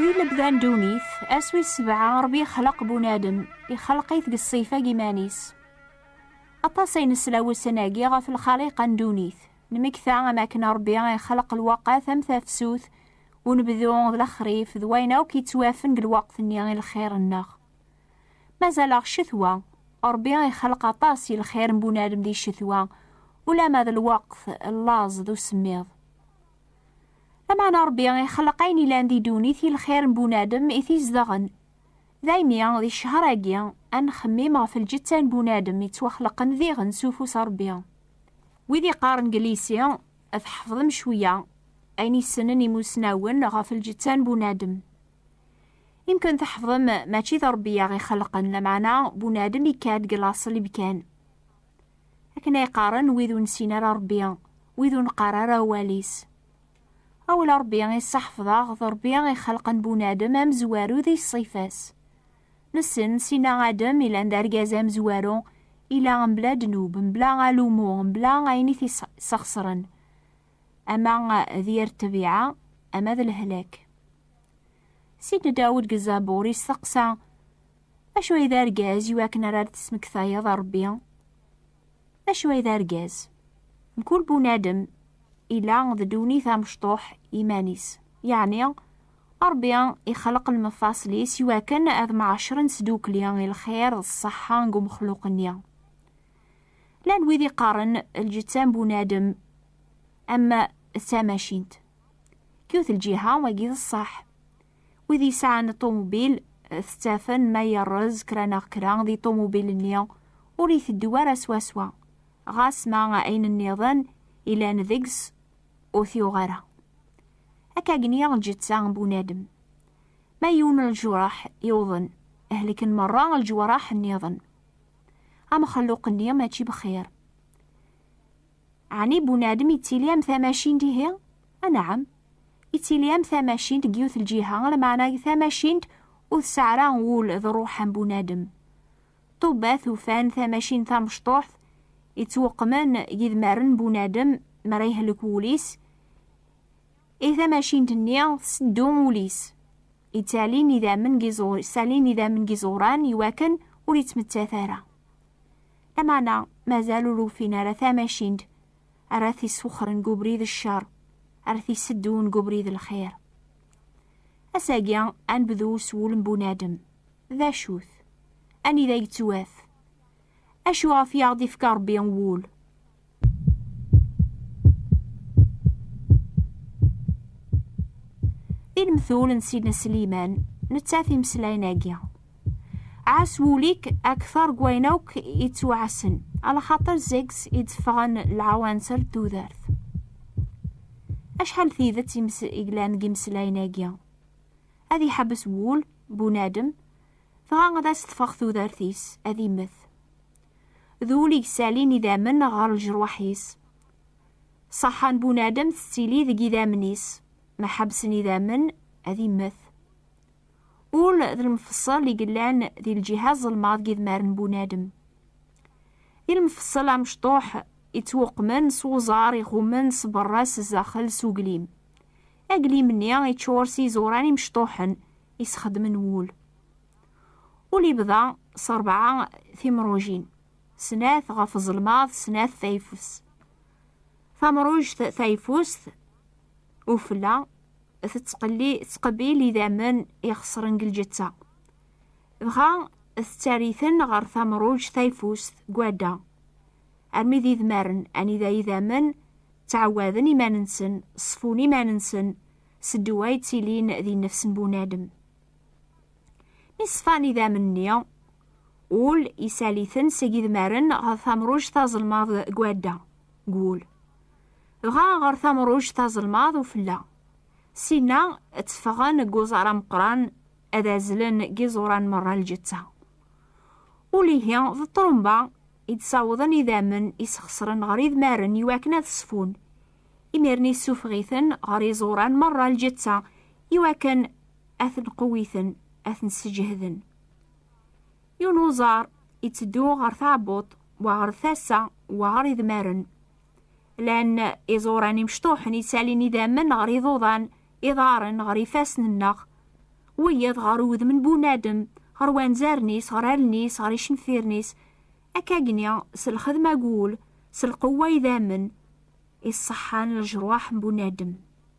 Di lebda n ddunit, ass wis sebɛa, Ṛebbi ixleq bunadem, ixleq-it deg ṣṣifa n yiman-is. Aṭas ay nesla ussan-agi ɣef lxaliqa n ddunit, nmekta am akken Ṛebbi ixleq lwaqat am tafsut, unebdu d lexrif d wayen akk yettwafen deg lweqt-nni i lxir-nneɣ. Mazal-aɣ ccetwa, Ṛebbi ixelq aṭas i lxir n bunadem di ccetwa, ulamma d lweqt n laẓ d usemmiḍ. Lameɛna Ṛebbi ixelq ayen ilan di ddunit i lxir n bunadem i t-izedɣen. Daymi, di ccehr-agi, ad nxemmim ɣef lǧetta n bunadem ittwaxleqen diɣen s ufus n Ṛebbi. Wid iqqaren deg lyisi, tḥefḍem cwiya ayen i ssnen imusnawen ɣef lǧetta n bunadem. Imken tḥefḍem mačči d Ṛebbi i aɣ-ixelqen, lameɛna bunadem ikka-d deg laṣel imkan. Akken ay qqaren wid ur nessin ara Ṛebbi, wid ur neqqar ara awal-is. Awal Ṛebbi i ṣṣeḥfḍeɣ, d Ṛebbi i ixelqen bunadem amezwaru di ṣṣifa-s. Nessen, sina Adem ilan d argaz amezwaru, ila mebla ddnub, mebla alumu, mebla ayen i t-isxeṣren, ama d yir ṭṭbiɛa, ama d lehlak. Sidna Dawud deg Zabur yesteqsa, Acu ay d argaz i wakken ara d-tesmektayeḍ a Rebbi? Acu ay d argaz? Mkul bunadem ila d ddunit amecṭuḥ iman-is, yeɛni Rebbi ixleq lmefaṣel-is i wakken ad mɛaccren sdukli i lxir d ṣṣeḥḥa deg umexluq-nni. Llan wid iqqaren lǧetta n bunadem am d tamacint. Yiwet lǧiha, wagi d ṣṣeḥ. Wid yesɛan ṭumubil eh, tettafen ma yerrez kra neɣ kra di ṭumubil-nni ur iteddu ara swaswa, ɣas ma ayen nniḍen ilan deg-s ur t-yuɣ ara. Akka gni lǧetta n bunadem. Ma yiwen ljureḥ yuḍen, hleken merra lǧewraḥ nniḍen. Amexluq-nni mačči bxir. Ɛni bunadem yettili am tamacint ihi? Anɛam. Yettili am tamacint deg yiwet lǧiha, lmeɛna deg tamacint ur tesɛi ara ul d ṛṛuḥ am bunadem. Ṭṭubbat ufan tamacint tamecṭuḥt yettweqqmen deg idmaren n bunadem mi ara yehlek wul-is, i tamacint-nni tseddu ul-is, yettalin idammen deg iẓuran iwakken ur yettmettat ara. Lameɛna mazal ur ufin ara tamacint ara t-iswexren deg ubrid n ccer, ara t-iseddun deg ubrid n lxir. Ass-agi, ad nebdu s wul n bunadem. D acu-t? Anida yettwat? Acu ɣef i aɣ-d-ifka Rebbi wul? Di lemtul n Sidna Sliman, nettat imeslayen-agi. Ɛas wul-ik akteṛ n wayen akk ittwaɛasen, alaxaṭer seg-s i d-ffɣen lɛawanser n tudert. Acḥal n tidet i yellan deg imeslayen-agi! Ad iḥebbes wul n bunadem, dɣa ad as-teffeɣ tudert-is, ad immet. d ul i yessalin idammen ɣer lejruḥ-is. Ṣṣeḥḥa n bunadem tettili deg idammen-is, ma ḥebsen idammen, ad immet. Ul d lmefṣel i yellan di lǧiha ẓelmaḍ n idmaren n bunadem. Di lmefṣel amecṭuḥ ittwuqmen s uẓar iɣummen s berra s zdaxel s uglim. Aglim-nni iččur s iẓuran imecṭuḥen i sxedmen wul. Ul yebḍa s rebɛa timrujin, snat ɣef uzelmaḍ, snat tayeffus. Tamrujt tayeffust, ufella, tettqelli tettqebil idammen ixeṣren deg lǧetta. Dɣa tettari-ten ɣer tamrujt tayeffust gwada, armi d idmaren anida idammen ttɛawaden iman-nsen, ṣfun iman-nsen s ddwa yettilin di nnefs n bunadem. Mi ṣfan idammen-nni, ul isali-ten seg idmaren ɣer tamruǧt tazelmaḍ deg wadda, deg wul, dɣa ɣer tamruǧt tazelmaḍ ufella. Sin-a tteffɣen deg uẓar ameqqran ad azlen deg iẓuran merra n lǧetta. Ul ihi d ṭrumba i d-sawḍen idammen isxeṣren ɣer idmaren iwakken ad ṣfun, imiren issufeɣ-iten ɣer iẓuran merra n lǧetta iwakken ad ten-qewwiten, ad ten-sseǧehden. Yiwen uẓar itteddu ɣer tɛebbuḍt, wa ɣer tasa, wa ɣer idmaren. Llan iẓuran imecṭuḥen ittalin idammen ɣer iḍuḍan, iḍaren ɣer ifassen-nneɣ, wiyaḍ ɣer udem n bunadem, ɣer wanzaren-is, ɣer allen-is, ɣer icenfiren-is. Akkagni, s lxedma n wul, s lqewwa idammen, iṣṣeḥḥan leǧruḥ n bunadem.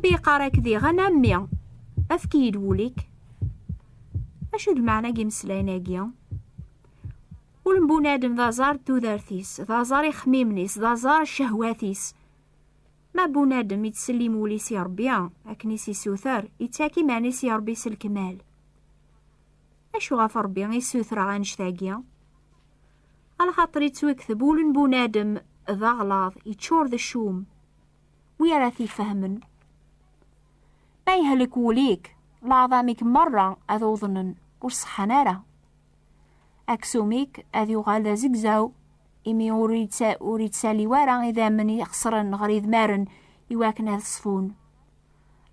Ṛebbi iqqar-ak diɣ, a mmi, efk-iyi-d wul-ik. Acu d lmeɛna n yimeslayen-agi? Ul n bunadem d aẓar n tudert-is, d aẓar ixemmimen-is, d aẓar n ccehwat-is. Ma bunadem ittsellim wul-is i Ṛebbi, akken i s-isuter, ittak iman-is i Ṛebbi s lekmal. Acu ɣef Ṛebbi i ssutreɣ annect-agi? Alxaṭer ittwekteb ul n bunadem d aɣlaḍ, iččur d ccum. Wi ara t-ifehmen? Ma yehlek wul-ik, leɛḍam-ik meṛṛa ad uḍnen, ur ṣeḥḥan ara. Aksum-ik ad yuɣal d azegzaw, imi ur ittalliw ara idammen ixeṣren ɣer idmaren iwakken ad ṣfun.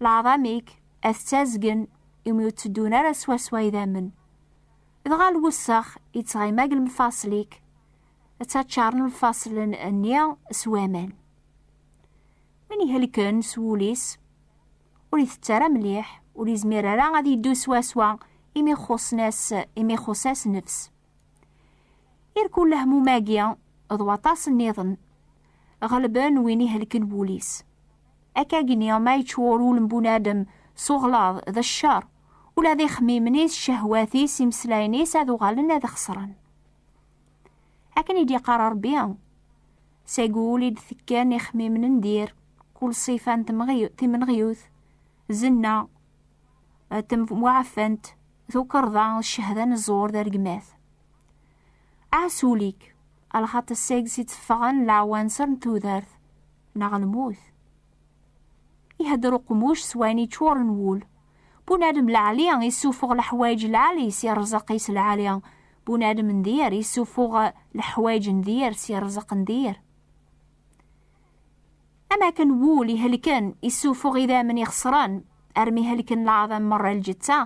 Leɛḍam-ik Ad ttazgen imi ur tteddun ara swaswa idammen. Dɣa lwessex yettɣima deg lmfaṣel-ik, ttaččaren lfaṣel-nni s waman. Win ihelken s wul-is, ur itett ara mliḥ, ur yezmir ara ad yeddu swaswa imi xuṣṣen-as, imi ixuṣṣ-as nnefs. Irkul lehmum-agi d waṭas nniḍen, ɣelben win ihelken wul-is. Akkagni ma yeččur wul n bunadem s uɣlaḍ d ccer, ula d ixemmimen-is, cehwat-is, imeslayen-is ad uɣalen ad xesren. Akken i d-yeqqar Rebbi, seg wul i d-tekken ixemmimen n dir, kul ṣifa n timenɣyut, zenna, Atem muɛafant tukerḍa ccehda n ẓẓur d aregmat. Ɛas ul-ik, alxaṭ seg-s i tteffɣen leɛwanser n tudert neɣ lmut. Ihedder uqmuc s wayen iččuren wul. Bunadem lɛali issufuɣ leḥwayeǧ lɛali si rrzeq-is lɛali, bunadem n dir issufuɣ leḥwayeǧ n dir si rrzeq n dir. Am akken wul ihelken issufuɣ idammen ixeṣren armi helken leɛḍam merra lǧetta,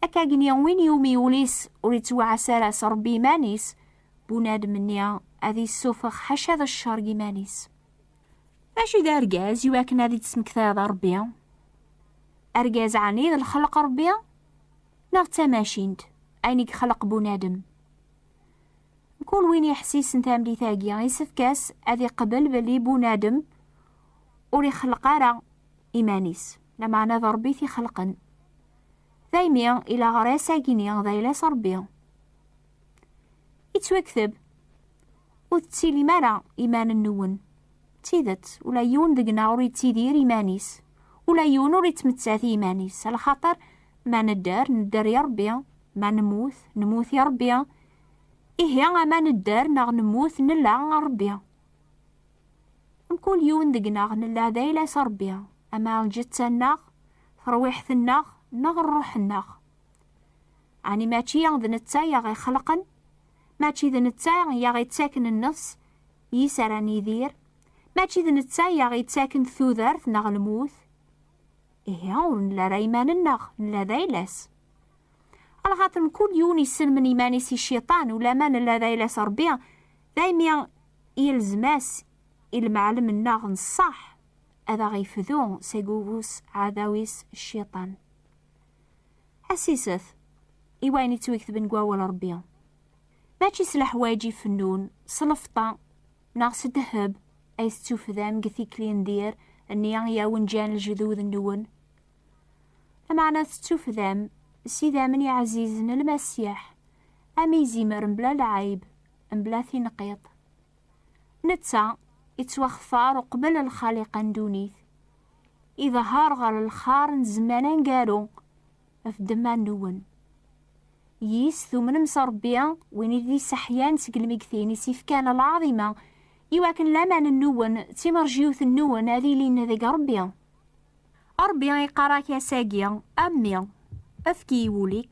akka gni win iwumi wul-is ur ittwaɛas ara s Rebbi iman-is, bunadem-nni ad issufeɣ ḥaca d ccer n yiman-is. Mačči d argaz iwakken ad ittesmektayeḍ a Rebbi? Argaz ɛni d lxelq n Rebbi? Neɣ d tamacint, ayen i ixleq bunadem? Kul win yeḥsisen tamlit-agi, isefk-as ad iqbel belli bunadem ur ixelleq ara iman-is, lameɛna d Rebbi t-ixelqen. Daymi, ilaɣer-as agini d ayla-s Rebbi. Ittwakteb, ur tettilim ara iman-nwen. D tidet, ula yiwen deg-neɣ ur yettidir iman-is, ula yiwen ur yettmettat i yiman-is, ala xaṭer Ma nedder, nedder i Ṛebbi, ma nemmut, nemmut i Ṛebbi. Ihi, ama nedder neɣ nemmut, nella a Ṛebbi. Mkul yiwen deg-neɣ nella d ayla-s a Ṛebbi, ama lǧetta-nneɣ, terwiḥt-nneɣ, neɣ ṛṛuḥ-nneɣ. Ɛni mačči d netta i aɣ-ixelqen? Mačči d netta i aɣ-ittaken nneṣ yis ara nidir? Mačči d netta i aɣ-ittaken tudert neɣ lmut? Ihi ur nella ara iman-nneɣ, nella d ayla-s. Lxaṭer mkul yiwen yesselmen iman-is i cciṭan, ulamma nella d ayla-s Ṛebbi, daymi yelzem-as i lemɛellem-nneɣ n ṣṣeḥ ad aɣ-ifdu seg ufus aɛdaw-is cciṭan. Ḥessis-t i wayen yettwagtben deg Wawal Ṛebbi, mačči s leḥwayeǧ ifennun, s lefṭa, Neɣ s ddheb ay tettufdam deg tikli n dir nni i awen-ǧǧan lejdud-nwen. Lameɛna tettufdam s idammen iɛzizen n Lmasiḥ, am izimer mebla lɛayb, mebla tinqiḍt. Netta yettwaxtar uqbel lxaliqa n ddunit. Iḍehher ɣer lxar n zzman aneggaru. ɣef ddemma-nwen. Yis, tumnem s Ṛebbi, win i d-isseḥyan seg lmeggtin, i s-ifkan lɛaḍima, i wakken laman-nwen d timerjiwt-nwen ad ilin deg Ṛebbi. Ṛebbi iqqar-ak ass-agi, A mmi, efk i wul-ik.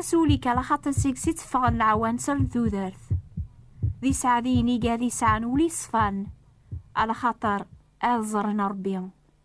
Asuli kala xaṭi seg-s i teffɣen leɛwanser n tudert. D iseɛdiyen i gad yesɛan ul iṣfan, ala xaṭer ad ẓren Ṛebbi,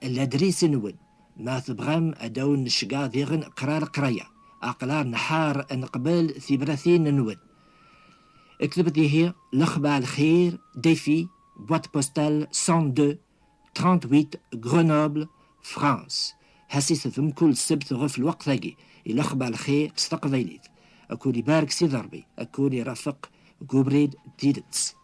Ladris-nwen. Ma tebɣam ad awen-necgeɣ diɣen qrar qraya. Aqlar nḥar neqbel tibratin-nwen. Ktebt ihi lexbar lxir, Défi, boîte postale 102 38 Grenoble, France. Ḥesset-d mkul ssebt ɣef lweqt-agi i lexbar lxir s teqbaylit. Ad kwen ibarek Sidi Ṛebbi, ad kwen irafeq deg ubrid n tidet.